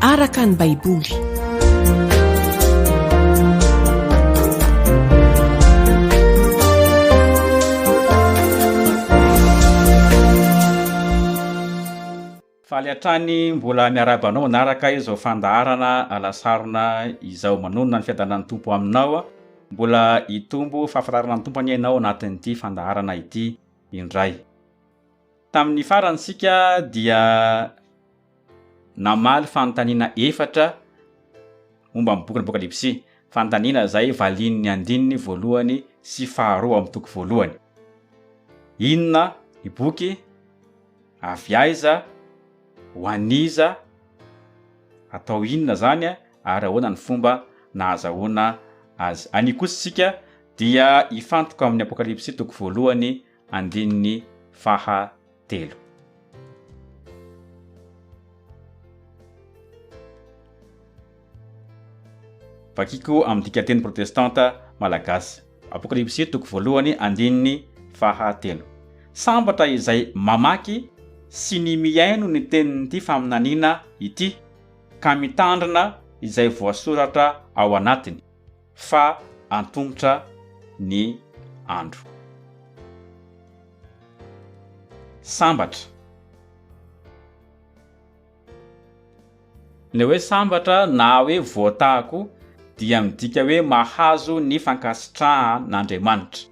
araka ny Baiboly. Faly hatrany mbola miarahaba anao manaraka izao fandaharana alasarona izao. Manonona ny fiadanan'ny Tompo aminao. Mbola hitombo fahafantarana ny Tompo anie ianao anatin'ity fandaharana ity indray. Tamin'ny farany isika dia namaly fanontaniana efatra momba ny bokin'ny Apokalypsy, fanontaniana izay valian'ny andininy voalohany sy faharoa amin'ny toko voalohany. Inona ny boky? Avy aiza? Ho an'iza? Atao inona izany? Ary ahoana ny fomba nahazahoana azy? Anio kosa isika dia hifantoka amin'ny Apokalypsy toko voalohany andininy faha telo. Vakiko amin'ny dikanteny protestanta malagasy. Apokalypsy toko voalohany andininy faha telo. Sambatra izay mamaky sy ny mihaino ny tenin'ity faminaniana ity, ka mitandrina izay voasoratra ao anatiny. fa antomotra ny andro. Sambatra. Ny hoe sambatra na hoe voatahako dia midika hoe mahazo ny fankasitrahan'Andriamanitra.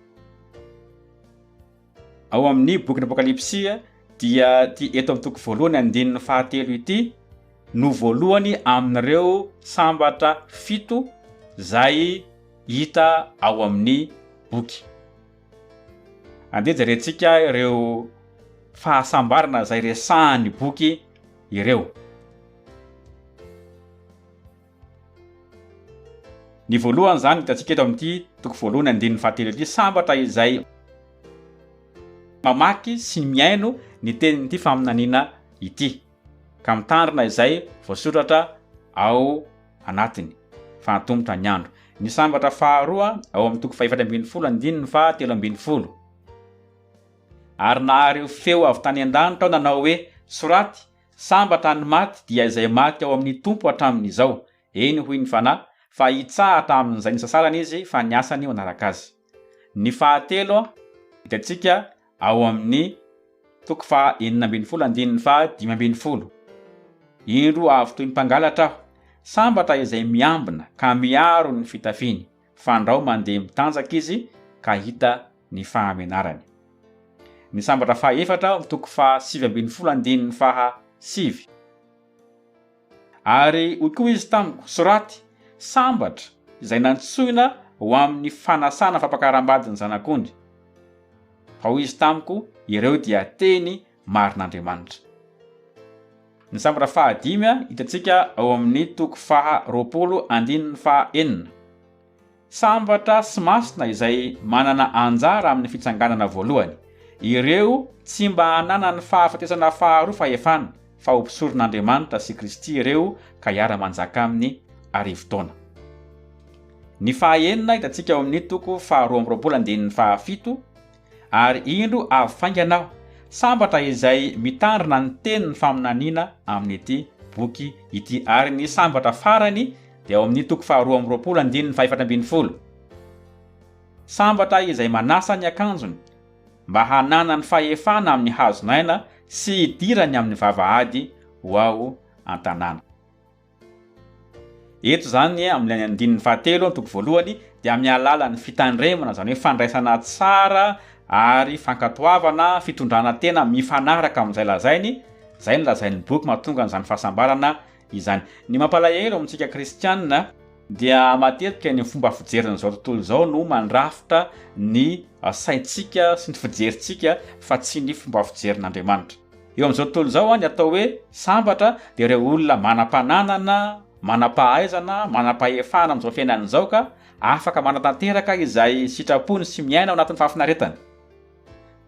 Ao amin'ny bokin'ny Apokalypsy dia ity eto amin'ny toko voalohany andininy fahatelo ity no voalohany amin'ireo sambatra fito izay hita ao amin'ny boky. Andeha jerentsika ireo fahasambarana izay resahan'ny boky ireo. Ny voalohany izany hitantsika eto amin'ity toko voalohany andininy fahatelo ity, sambatra izay mamaky sy mihaino ny tenin'ity faminaniana ity, ka mitandrina izay voasoratra ao anatiny, fa antomotra ny andro. Ny sambatra faharoa ao amin'ny toko fahefatra ambin'ny folo andininy faha telo ambin'ny folo, Ary nahare ho feo avy tany an-danitra aho nanao hoe, Soraty, Sambatra ny maty dia izay maty ao amin'ny Tompo hatramin'izao. Eny hoy ny Fanahy, fa hitsahatra amin'izay nisasarany izy fa ny asany manaraka azy. Ny fahatelo, hitantsika ao amin'ny toko faha enina ambin'ny folo andininy faha dimy ambin'ny folo. Indro avy toy ny mpangalatra aho. Sambatra izay miambina ka miaro ny fitafiny. Fandrao mandeha mitanjaka izy ka hita ny fahamenarany. Ny sambatra faha efatra ao amin'ny toko faha sivy ambin'ny folo andininy faha sivy. Ary hoy koa izy tamiko, Soraty, Sambatra izay nantsoina ho amin'ny fanasana fampakaram-bady ny Zanak'ondry. Fa hoy izy tamiko, Ireo dia teny marin'Andriamanitra. Ny sambatra faha dimy hitantsika ao amin'ny toko faha roapolo andininy faha enina. Sambatra sy masina izay manana anjara amin'ny fitsanganana voalohany, ireo tsy mba hananany fahafatesana faharoa fahefana, fa ho mpisoron'Andriamanitra sy Kristy ireo ka hiara-manjaka Aminy arivo taona. Ny faha enina hitantsika ao amin'ny toko faha roa amby roapolo andininy faha fito, ary indro avy faingana aho, sambatra izay mitandrina ny tenin'ny faminaniana amin'ity boky ity, ary ny sambatra farany dia ao amin'ny toko faharoa amby roapolo andininy fahefatra ambin'ny folo. Sambatra izay manasa ny akanjony, mba hananany fahefana amin'ny hazon'aina sy hidirany amin'ny vavahady ho ao an-tanàna. Eto izany amin'ilay andininy fahatelo amin'ny toko voalohany dia amin'ny alalan'ny fitandremana, izany hoe fandraisana tsara ary fankatoavana, fitondrana tena mifanaraka amin'izay lazainy, izay no lazain'ny boky mahatonga an'izany fahasambarana izany. Ny mampalahelo amintsika kristiana dia matetika ny fomba fijerin'izao tontolo izao no mandrafitra ny saintsika sy ny fijerintsika fa tsy ny fomba fijerin'Andriamanitra. Eo amin'izao tontolo izao, ny atao hoe sambatra dia ireo olona manam-pananana, manam-pahaizana, manam-pahefana amin'izao fiainana izao ka afaka manatanteraka izay sitrapony sy miaina ao anatin'ny fahafinaretana.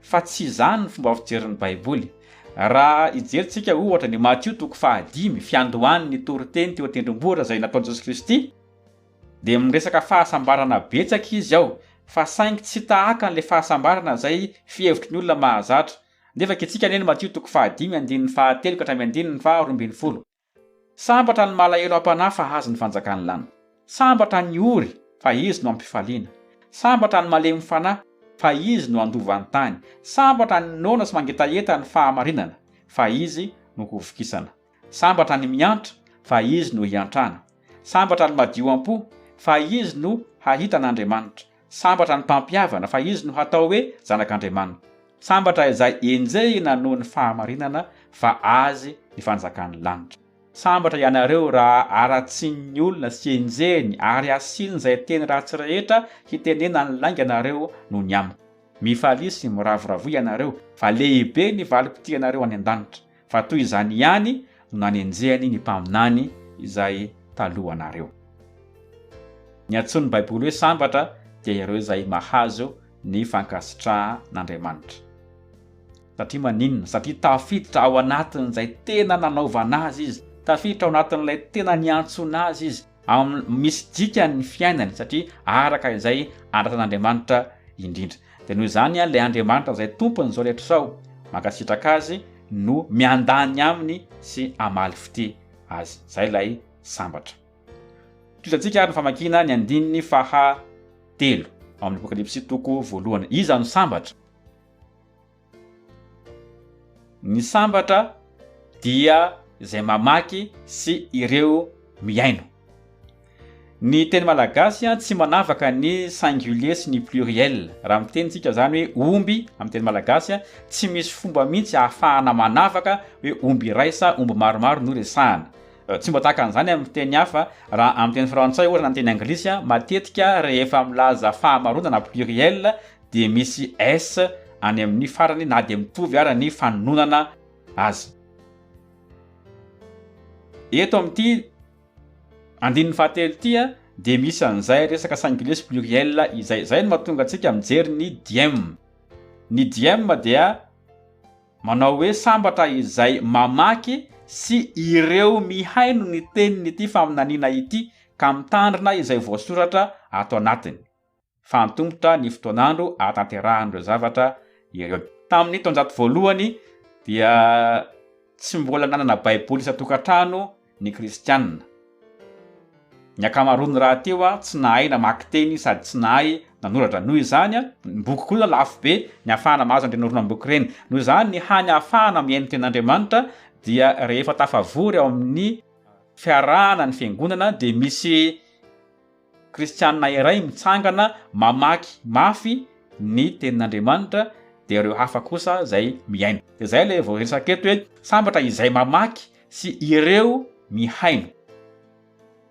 Fa tsy izany ny fomba fijerin'ny Baiboly. Raha hijerintsika, ohatra, ny Matio toko fahadimy, fiandohan'ny toriteny teo an-tendrombohitra izay nataon'i Jesosy Kristy, dia miresaka fahasambarana betsaka izy ao, fa saingy tsy tahaka an'ilay fahasambarana izay fihevitry ny olona mahazatra. Nefa kiantsika anie ny Matio toko fahadimy andininy fahatelo ka hatramin'ny andininy faha roa ambin'ny folo. Sambatra ny malahelo am-panahy fa hahazo ny fanjakan'ny lanitra. Sambatra ny ory fa izy no hampifaliana. Sambatra ny malemy fanahy fa izy no handova ny tany. Sambatra ny noana sy mangetaheta ny fahamarinana fa izy no hovokisana. Sambatra ny miantra, fa izy no hiantrana. Sambatra ny madio am-po, fa izy no hahita an'Andriamanitra. Sambatra ny mpampihavana, fa izy no hatao hoe zanak'Andriamanitra. Sambatra izay enjehina noho ny fahamarinana, fa azy ny fanjakan'ny lanitra. Sambatra ianareo raha haratsian'ny olona sy enjehiny, ary asian'izay teny ratsy rehetra hitenenan'ny lainga anareo noho ny amiko. Mifalia sy miravoravoa ianareo, fa lehibe ny valim-pitia anareo any an-danitra. Fa toy izany ihany no nanenjehany ny mpaminany izay talohanareo. Ny antsoin'ny Baiboly hoe sambatra dia ireo izay mahazo ny fankasitrahan'Andriamanitra. Satria maninona? Satria tafiditra ao anatin'izay tena nanaovana azy izy, tafiditra ao anatin'ilay tena niantsoana azy izy. amin'ny misy dikany ny fiainany satria araka izay andrasan'Andriamanitra indrindra. Dia noho izany ilay Andriamanitra izay tompon'izao rehetra izao, mankasitraka azy no miandany aminy sy hamaly fitia azy. Izay ilay sambatra. Tohizantsika ary ny famakiana ny andininy faha telo ao amin'ny Apokalypsy toko voalohany. Iza no sambatra? Ny sambatra dia izay mamaky sy ireo mihaino. Ny teny malagasy tsy manavaka ny singulier sy ny pluriel. Raha miteny isika izany hoe omby amin'ny teny malagasy, tsy misy fomba mihitsy ahafahana manavaka hoe omby iray sa omby maromaro no resahana. Tsy mba tahaka an'izany amin'ny fiteny hafa. Raha amin'ny teny frantsay ohatra na ny teny anglisy, matetika rehefa milaza fahamaronana, pluriel, dia misy s any amin' ny farany na dia mitovy ara ny fanononana azy. Eto amin' ity andininy fahatelo ity dia misy an' izay resaka singulé sy pluriel izay. Izay no mahatonga antsika mijery ny diem. Ny diem dia manao hoe sambatra izay mamaky sy ireo mihaino ny tenin' ity faminaniana ity ka mitandrina izay voasoratra ato anatiny. fa antomotra ny fotoan'andro ahatanterahan'ireo zavatra ireo. Tamin'ny taonjato voalohany dia tsy mbola nanana Baiboly isan-tokantrano ny Kristianina. Ny ankamaroany rahateo tsy nahay namaky teny sady tsy nahay nanoratra. Noho izany, ny boky koa lafo be ny hahafahana mahazo an'ireny horonam-boky ireny. Noho izany, ny hany hahafahana mihaino ny Tenin'Andriamanitra dia rehefa tafavory ao amin'ny fiarahana ny Fiangonana dia misy Kristianina iray mitsangana mamaky mafy ny Tenin'Andriamanitra, dia ireo hafa kosa izay mihaino. Dia izay ilay voaresaka eto hoe sambatra izay mamaky sy ireo mihaino.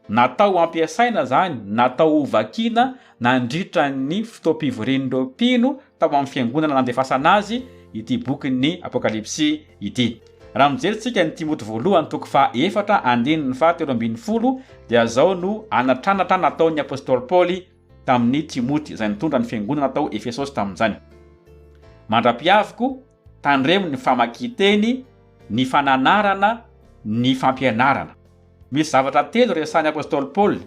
Natao hampiasaina izany, natao hovakiana nandritra ny fotoam-pivorian'ireo mpino tao amin'ny fiangonana nandefasana azy ity bokin'ny Apokalypsy ity. Raha mijery tsika ny Timoty voalohany toko faha efatra andininy faha telo ambin'ny folo dia zao no anatranatra nataon'ny Apostoly Paoly tamin'i Timoty izay nitondra ny fiangonana tao Efesosy tamin'izany. Mandra-piaviko, Tandremo ny famakian-teny, ny fananarana, ny fampianarana. Misy zavatra telo resahin'ny apostoly Paoly,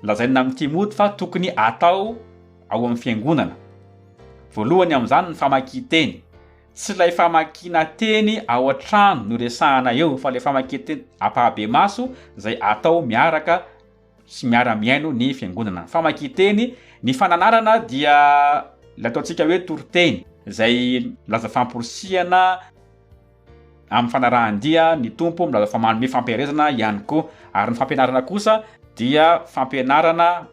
lazaina amin'i Timoty fa tokony atao ao amin'ny fiangonana. Voalohany amin'izany ny famakian-teny. Tsy ilay famakiana teny ao an-trano no iresahana eo fa ilay famakian-teny ampahabemaso izay atao miaraka sy miara-mihaino ny fiangonana. Ny famakian-teny, ny fananarana dia ilay ataontsika hoe toriteny izay milaza famporisihana amin'ny fanarahan-dia ny Tompo, milaza fa manome fampiherezana ihany koa. Ary ny fampianarana kosa dia fampianarana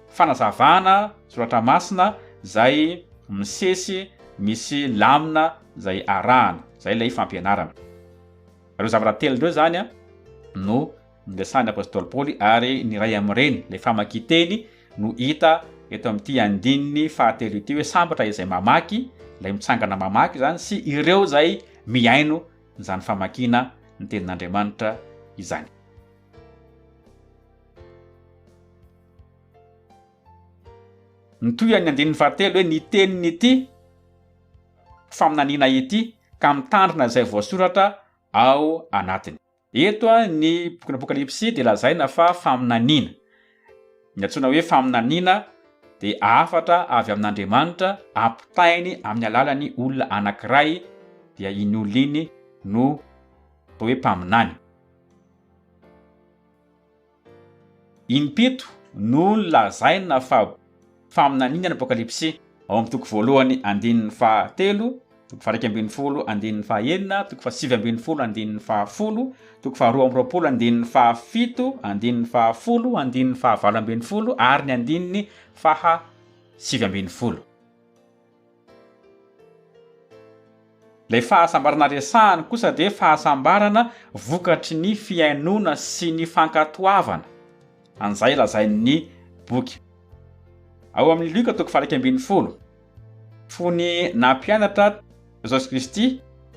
fanazavana soratra masina izay misesy misy lamina izay arahana. Izay ilay fampianarana. Ireo zavatra telo ireo izany no niresahan'ny apostoly Paoly ary ny iray amin'ireny, ilay famakian-teny no hita eto amin'ity andininy fahatelo ity hoe sambatra izay mamaky, ilay mitsangana mamaky izany sy ireo izay mihaino izany famakiana ny tenin'Andriamanitra izany. Mitohy an'ny andininy fahatelo hoe ny tenin'ity faminaniana ity ka mitandrina izay voasoratra ao anatiny. Eto ny bokin'ny Apokalypsy dia lazaina fa faminaniana. Ny antsoina hoe faminaniana dia hafatra avy amin'Andriamanitra ampitainy amin'ny alalan'ny olona anankiray, dia iny olona iny no atao hoe mpaminany. Impito no lazaina fa faminaniana ny Apokalypsy, ao amin'ny toko voalohany andininy faha telo, toko faha iraika ambin'ny folo andininy faha enina, toko faha sivy ambin'ny folo andininy faha folo, toko faha roa amby roapolo andininy faha fito, andininy faha folo, andininy faha valo ambin'ny folo ary ny andininy faha sivy ambin'ny folo. Ilay fahasambarana resahany kosa dia fahasambarana vokatry ny fihainoana sy ny fankatoavana an'izay lazain'ny boky. Ao amin'ny Lioka toko faha-iraika ambin'ny folo, fony nampianatra Jesosy Kristy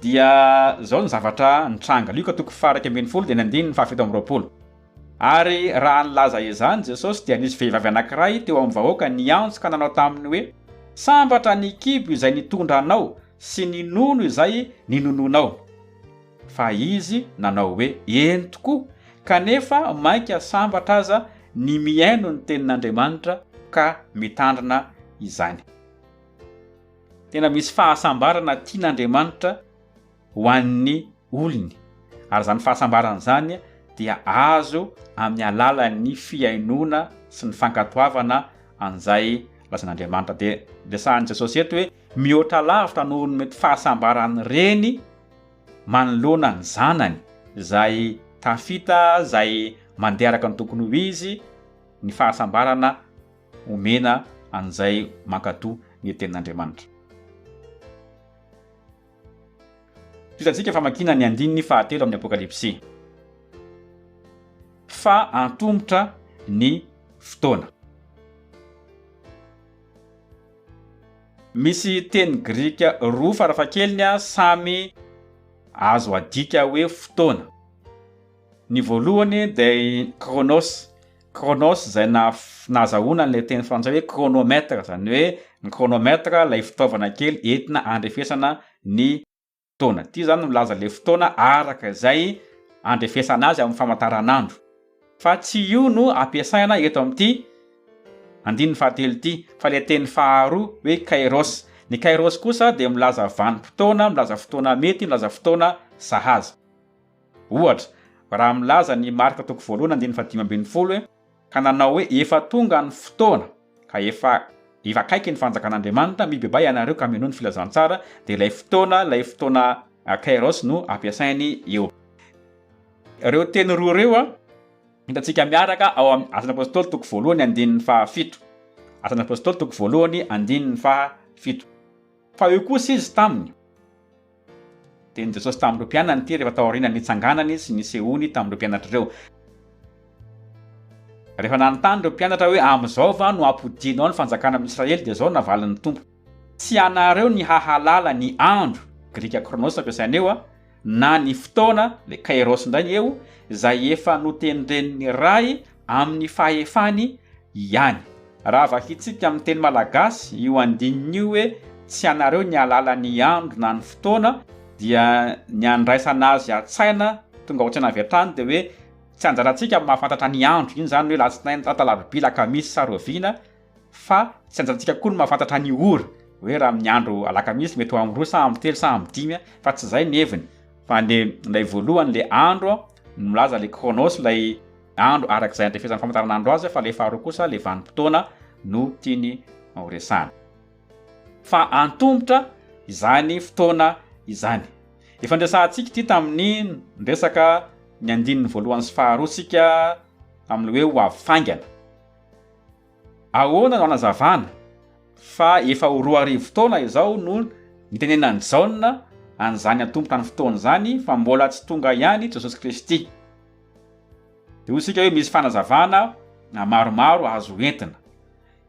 dia izao ny zavatra nitranga, Lioka toko faha-iraika ambin'ny folo dia ny andininy faha-fito amby roapolo. Ary raha nilaza izany Jesosy, dia nisy vehivavy anankiray teo amin'ny vahoaka niantso ka nanao taminy hoe, Sambatra ny kibo izay nitondra anao sy ny nono izay ninonoanao. Fa izy nanao hoe, Eny tokoa, kanefa mainka sambatra aza ny mihaino ny tenin'Andriamanitra ka mitandrina izany. Tena misy fahasambarana tian'Andriamanitra. ho an'ny olony, ary izany fahasambarana izany dia azo amin'ny alalan'ny fihainoana sy ny fankatoavana an'izay lazain'Andriamanitra. Dia resahin'i Jesosy eto hoe mihoatra lavitra noho ny mety fahasambaran'ny reny manoloana ny zanany izay tafita, izay mandeha araka ny tokony ho izy, ny fahasambarana omena an'izay mankatò ny tenin'Andriamanitra. Hitantsika famakiana ny andininy fahatelo amin'ny Apokalypsy fa antomotra ny fotoana. Misy teny grika roa farafahakeliny samy azo adika hoe fotoana. Ny voalohany dia i Chronos, Chronos izay nahazahoana an'ilay teny frantsay hoe chronomètre, izany hoe ny chronomètre ilay fitaovana kely entina andrefesana ny taona. Ity izany milaza ilay fotoana araka izay andrefesana azy amin'ny famantaranandro. Fa tsy io no ampiasaina eto amin'ity andininy fahatelo ity fa ilay teny faharoa hoe kairos. Ny kairos kosa dia milaza vanim-potoana, milaza fotoana mety, milaza fotoana sahaza. Ohatra, raha milaza ny Marka toko voalohany andininy fahadimy ambin'ny folo hoe, Ka nanao hoe, Efa tonga ny fotoana, ka efa efa akaiky ny fanjakan'Andriamanitra, mibebaha ianareo ka mino ny filazantsara, dia ilay fotoana, ilay fotoana kairos no ampiasainy eo. Ireo teny roa ireo hitantsika miaraka ao amin'ny Asan'ny Apôstôly toko voalohany andininy fahafito. Asan'ny Apôstôly toko voalohany andininy fahafito. Fa eo kosa izy taminy. Tenin'i Jesosy tamin'ireo mpianany ity rehefa taorian'ny nitsanganany sy nisehoany tamin'ireo mpianatra ireo. Rehefa nanontany ireo mpianatra hoe, Amin'izao va no hampodianao ny fanjakana amin'ny Israely? dia izao no navalin'ny Tompo. Tsy ianareo ny hahalala ny andro, grika chronos ampiasaina eo, na ny fotoana, le kairos indray ny eo, izay efa notendren'ny Ray, amin'ny fahefany ihany. Raha vakintsika amin'ny teny malagasy io andininy io hoe tsy anareo ny halala ny andro na ny fotoana dia ny handraisana azy an-tsaina tonga ao an-tsaina avy hatrany dia hoe tsy anjarantsika mahafantatra ny andro, iny izany hoe latsinainy, talata, alarobia, lakamisy sa roviana, fa tsy anjantsika koa ny mahafantatra ny ora hoe raha amin'ny andro alakamisy mety ho amin'ny roa sa amin'ny telo sa amin'ny dimy fa tsy izay ny heviny fa le ilay voalohany le andro no milaza le chronos ilay andro araka izay andrefesan'ny famantaranandro azy fa le faharoa kosa le vanim-potoana no tiany horesahana fa antomotra izany fotoana izany efa ndresahantsika ity tamin'ny ndresaka ny andininy voalohany sy faharoa sika amin'ny hoe ho avy faingana Ahoana no anazavana fa efa ho roa arivo taona izao no nitenenan'i Jaona an'izany antompotany fotoana izany fa mbola tsy tonga ihany Jesosy Kristy? Dia hoy isika hoe misy fanazavana maromaro azo entina.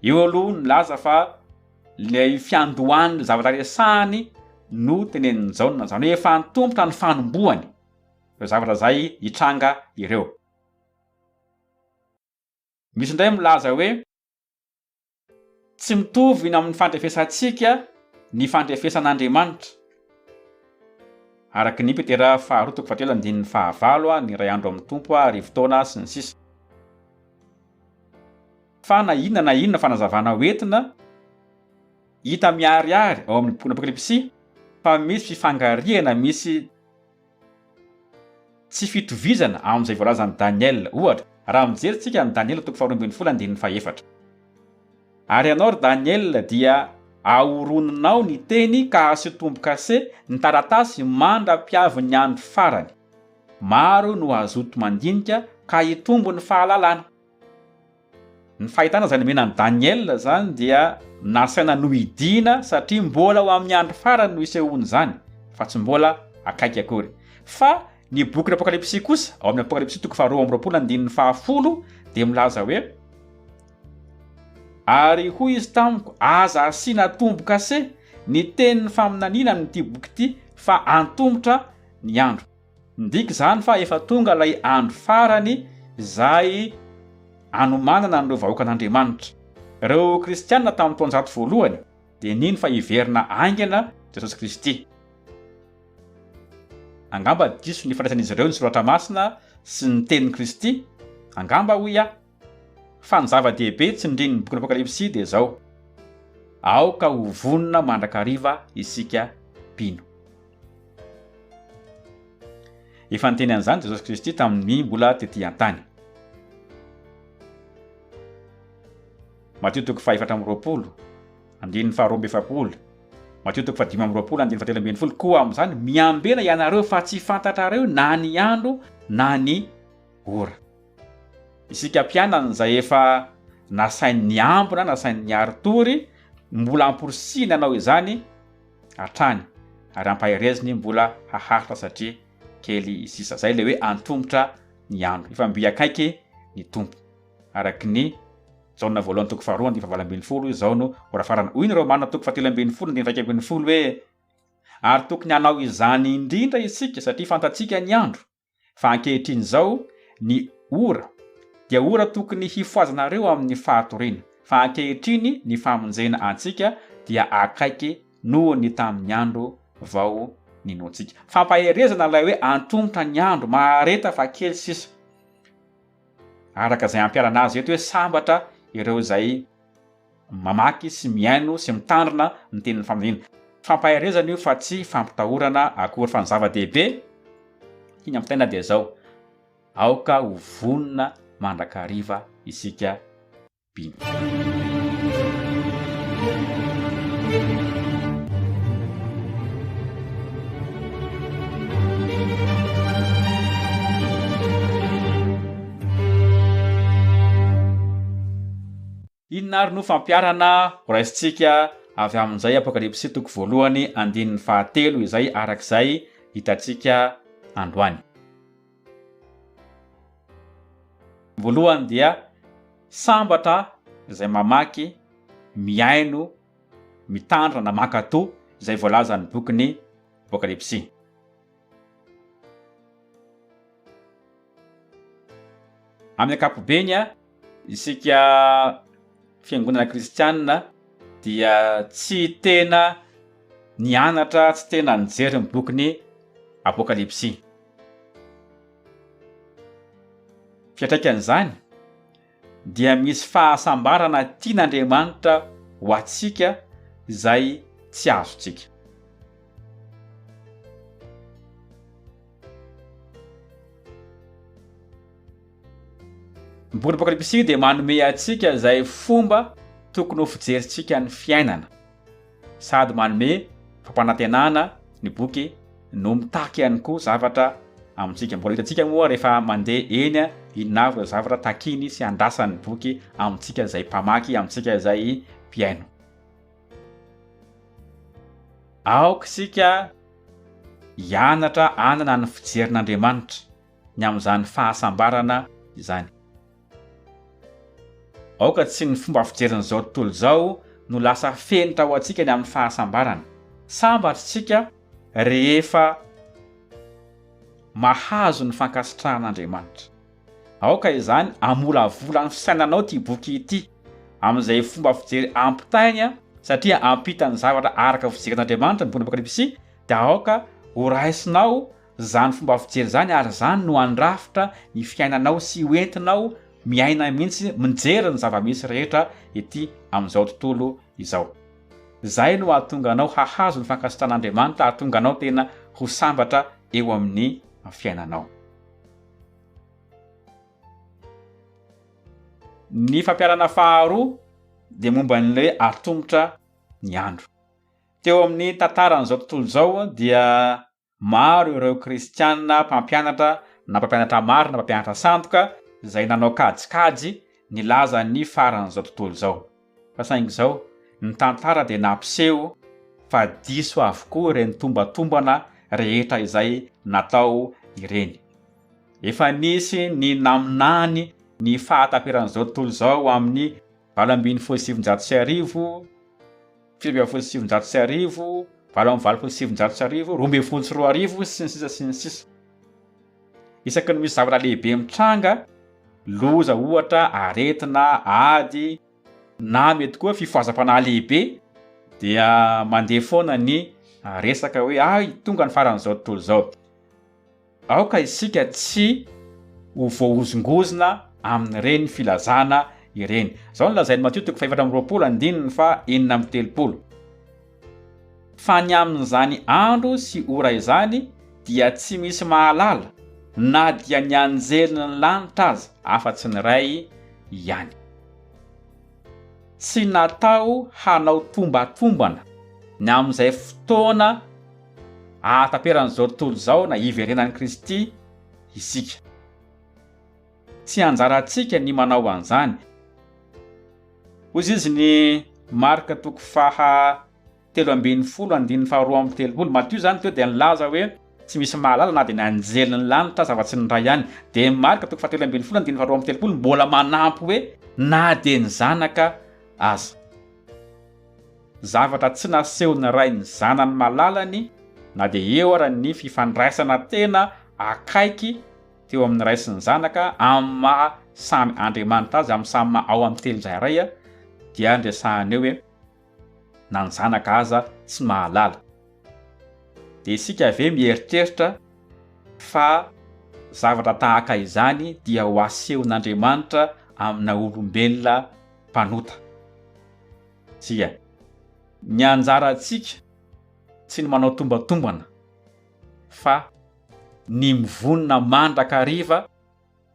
Eo aloha nilaza fa ilay fiandohan'ilay zavatra resahany no tenenin'i Jaona, izany hoe efa antompona ny fanombohany ireo zavatra izay hitranga ireo. Misy indray milaza hoe, Tsy mitovy ny amin'ny fandrefesantsika ny fandrefesan'Andriamanitra. Araka ny Petera faharoa toko fahatelo andininy fahavalo, ny iray andro amin'ny Tompo, arivo taona, sy ny sisa. Fa na inona na inona fanazavana ho entina, hita miharihary ao amin'ny bokin'Apokalypsy fa misy fifangarihana misy. Tsy fitovizana amin'izay voalazan'i Daniela, ohatra, raha mijery tsika an'i Daniela toko faharoa ambin'ny folo andininy fahefatra. Ary ianao, ry Daniela, dia ahoroninao ny teny ka asio tombo-kase ny taratasy mandra-piavin'ny andro farany. Maro no hazoto mandinika ka hitombo ny fahalalana. Ny fahitana izay nomena an'i Daniela izany dia nasaina nohidiana satria mbola ho amin'ny andro farany no isehoan'izany fa tsy mbola akaiky akory. Fa ny bokin'ny Apokalypsy kosa, ao amin'ny Apokalypsy toko faharoa amby roapolo andininy fahafolo dia milaza hoe, Ary hoy izy tamiko, Aza asiana tombo-kase ny tenin'ny faminaniana amin'ity boky ity, fa antomotra ny andro. Midika izany fa efa tonga ilay andro farany izay anomanana an'ireo vahoakan'Andriamanitra. Ireo kristiana tamin'ny taonjato voalohany dia nino fa hiverina haingana Jesosy Kristy. Angamba diso ny fandraisan'izy ireo ny Soratra Masina sy ny tenin'i Kristy, angamba, hoy aho. Fa ny zava-dehibe tsindrin'ny bokin'ny Apokalypsy dia izao, Aoka ho vonona mandrakariva isika mpino. Efa niteny an'izany Jesosy Kristy tamin'ny mbola tetỳ an-tany. Matio toko fahefatra amby roapolo, andininy faharoa amby efapolo, Matio toko fahadimy amby roapolo, andininy fahatelo ambin'ny folo, Koa amin'izany miambena ianareo fa tsy fantatrareo na ny andro na ny ora. Isika mpianany izay efa nasainy niambina, nasainy niary tory, mbola amporisihiny hanao izany hatrany ary ampahereziny mbola haharitra satria kely sisa. Izay ilay hoe antomotra ny andro. Efa mby akaiky ny Tompo. Araka ny Jaona voalohany toko faharoa andininy fahavalo ambin'ny folo, izao no horafarana. Hoy ny Romana toko fahatelo ambin'ny folo andininy iraika ambin'ny folo hoe, Ary tokony hanao izany indrindra isika satria fantatsika ny andro. Fa ankehitriny izao, ny ora, dia ora tokony hifohazanareo amin'ny fahatoriana, fa ankehitriny ny famonjena antsika dia akaiky noho ny tamin'ny andro vao ninoantsika. Fampaherezana ilay hoe antomotra ny andro, mahareta fa kely sisa. Araka izay ampiharana azy eto hoe sambatra ireo izay. mamaky sy mihaino sy mitandrina ny tenin'ny famonjena. Fampaherezana io fa tsy fampitahorana akory fa ny zava-dehibe hiny amin'ny fiainana dia izao, aoka ho vonona mandrakariva isika mpino. Inona ary no fampiharana ho raisintsika avy amin'izay Apokalypsy toko voalohany andininy fahatelo izay araka izay hitantsika androany? Voalohany dia sambatra izay mamaky, mihaino, mitandrina na mankatò izay voalazan'ny bokin'ny Apokalypsy. Amin'ny ankapobeny, isika fiangonana kristianina dia tsy tena nianatra, tsy tena nijery ny bokin'ny Apokalypsy. Fiantraikan'izany, dia misy fahasambarana tian'Andriamanitra ho antsika izay tsy azontsika. Ny bokin'Apokalypsy dia manome antsika izay fomba tokony ho fijerintsika ny fiainana. sady manome fampanantenana ny boky no mitaky ihany koa zavatra amintsika. Mbola hitantsika moa rehefa mandeha eny inona avy ireo zavatra takiny sy andrasan'ny boky amintsika izay mpamaky, amintsika izay mpihaino. Aoka isika hianatra hanana ny fijerin'Andriamanitra ny amin'izany fahasambarana izany. Aoka tsy ny fomba fijerin'izao tontolo izao no lasa fenitra ho antsika ny amin'ny fahasambarana. Sambatra isika rehefa mahazo ny fankasitrahan'Andriamanitra. Aoka izany hamolavola ny fisainanao ity boky ity amin'izay fomba fijery ampitainy satria ampita ny zavatra araka ny fijerin'Andriamanitra ny bokin'i Apokalypsy dia aoka horaisinao Izany fomba fijery izany ary izany no handrafitra ny fiainanao sy ho entinao miaina mihitsy mijery ny zava-misy rehetra ety amin'izao tontolo izao. Izay no hahatonga anao hahazo ny fankasitrahan'Andriamanitra, hahatonga anao tena ho sambatra eo amin'ny fiainanao. Ny fampianarana faharoa dia momba ny hoe atomotra ny andro. Teo amin'ny tantaran'izao tontolo izao dia Maro ireo Kristianina mpampianatra na mpampianatra marina na mpampianatra sandoka izay nanao kajikajy nilaza ny faran'izao tontolo izao. Fa saingy izao, ny tantara dia nampiseho fa diso avokoa ireny tombatombana rehetra izay natao ireny. Efa nisy ny naminany ny fahataperan'izao tontolo izao amin'ny valo ambin'ny folo sy sivinjato sy arivo, sivy ambin'ny folo sy sivinjato sy arivo, valo amby valopolo sy sivinjato sy arivo, roa ambin'ny folo sy roa arivo, sy ny sisa sy ny sisa. Isaky ny misy zavatra lehibe mitranga, loza ohatra, aretina, ady, na mety koa fifohazam-panahy lehibe, dia mandeha foana ny resaka hoe hay tonga ny faran'izao tontolo izao. Aoka isika tsy ho voahozongozona amin'ireny filazana ireny. Izao no lazain'i Matio toko fahefatra amby roapolo andininy faha enina amby telopolo, Fa ny amin'izany andro sy ora izany dia tsy misy mahalala, na dia ny anjelin'ny lanitra aza, afa-tsy ny Ray ihany. Tsy natao hanao tombatombana ny amin'izay fotoana. Ahataperan'izao tontolo izao na hiverenan'i Kristy isika. Tsy anjarantsika ny manao an'izany. Hoy izy ny Marka toko faha telo ambin'ny folo andininy faha roa amby telopolo, Matio izany teo dia nilaza hoe tsy misy mahalala na dia ny anjelin'ny lanitra aza afa-tsy ny Ray any. Dia Marka toko faha telo ambin'ny folo andininy faha roa amby telopolo mbola manampy hoe na dia ny Zanaka aza. Zavatra tsy nasehon'ny ray ny zanany malalany na dia eo ara ny fifandraisana tena akaiky teo amin'ny ray sy ny zanaka amin'ny maha samy Andriamanitra azy amin'ny samy maha ao amin'ny telo tsirairay dia ny resahana eo hoe na ny zanaka aza tsy mahalala. Dia isika ve mieritreritra fa zavatra tahaka izany dia ho asehon'Andriamanitra amina olombelona mpanota. Tsia. Ny anjarantsika tsy ny manao tombatombana fa ny mivonona mandrakariva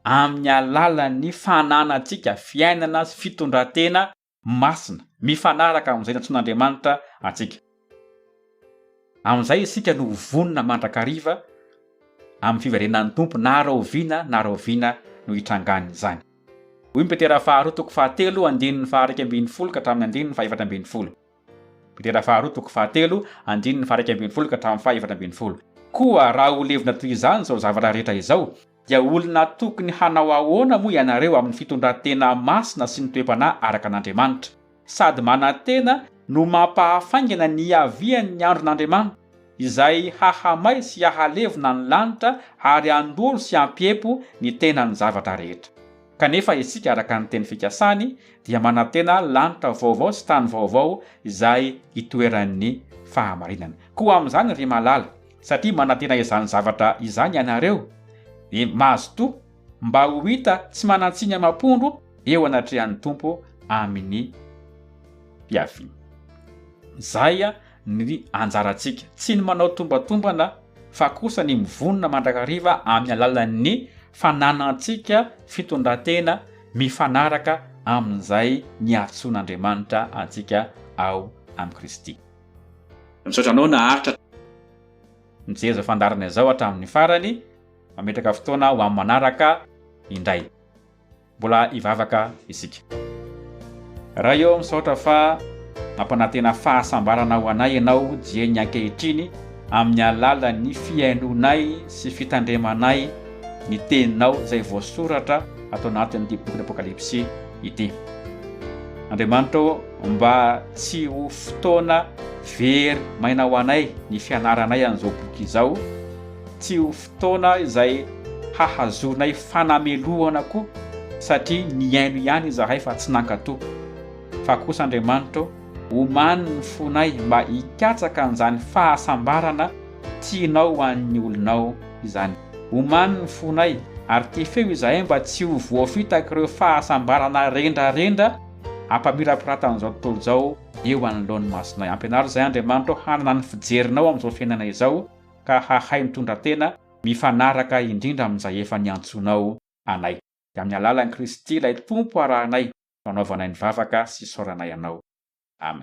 amin'ny alalan'ny fananantsika fiainana sy fitondran-tena masina mifanaraka amin'izay nantsoin'Andriamanitra antsika. Amin'izay isika no ho vonona mandrakariva amin'ny fiverenan'ny Tompo na rahoviana na rahoviana no hitrangan'izany. Hoy ny Petera faharoa toko fahatelo andininy faharaika ambin'ny folo ka hatramin'ny andininy fahefatra ambin'ny folo. Petera faharoa toko fahatelo andininy faharaika ambin'ny folo ka hatramin'ny fahefatra ambin'ny folo. Koa raha ho levona toy izany izao zavatra rehetra izao, Dia olona tokony hanao ahoana moa ianareo amin'ny fitondran-tena masina sy ny toe-panahy araka an'Andriamanitra? Sady manantena no mampahafaingana ny hiavian'ny andron'Andriamanitra, izay hahamay sy hahalevona ny lanitra ary handoro sy hampiepo ny tenan'ny zavatra rehetra. Kanefa isika, araka ny teny fikasany, dia manantena lanitra vaovao sy tany vaovao izay hitoeran'ny fahamarinana. Koa amin'izany ry malala, satria manantena izany zavatra izany ianareo, dia mazotoa mba ho hita tsy manan-tsiny amam-pondro eo anatrehan'ny Tompo amin'ny fiaviany. Izay ny anjarantsika, tsy ny manao tombatombana fa kosa ny mivonona mandrakariva amin'ny alalan'ny fananantsika fitondran-tena mifanaraka amin'izay niantsoan'Andriamanitra antsika ao amin'i Kristy. Misaotra anao naharitra. Mijery izao fandaharana izao hatramin'ny farany, mametraka fotoana ho amin'ny manaraka indray. Mbola hivavaka isika. Ray ô, misaotra fa mampanantena fahasambarana ho anay Ianao dieny ankehitriny amin'ny alalan'ny fihainoanay sy fitandremanay ny Teninao izay voasoratra ato anatin'ity bokin'ny Apokalypsy ity. Andriamanitra ô, mba tsy ho fotoana very maina ho anay ny fianaranay an'izao boky izao, tsy ho fotoana izay hahazoanay fanamelohana koa satria nihaino ihany izahay fa tsy nankatò. Fa kosa Andriamanitro, omano ny fonay mba hikatsaka an'izany fahasambarana tianao ho an'ny olonao izany. Omano ny fonay ary tefeo izahay mba tsy ho voafitak'ireo fahasambarana rendrarendra, Ampamirapiratan'izao tontolo izao eo anoloan'ny masonay. Ampianaro izahay, Andriamanitra ô, hanana ny fijerinao amin'izao fiainana izao, ka hahay mitondra tena mifanaraka indrindra amin'izay efa niantsoanao anay. Dia amin'ny alalan'i Kristy, ilay Tompo arahanay no anaovanay ny vavaka sy isaoranay anao. Amen.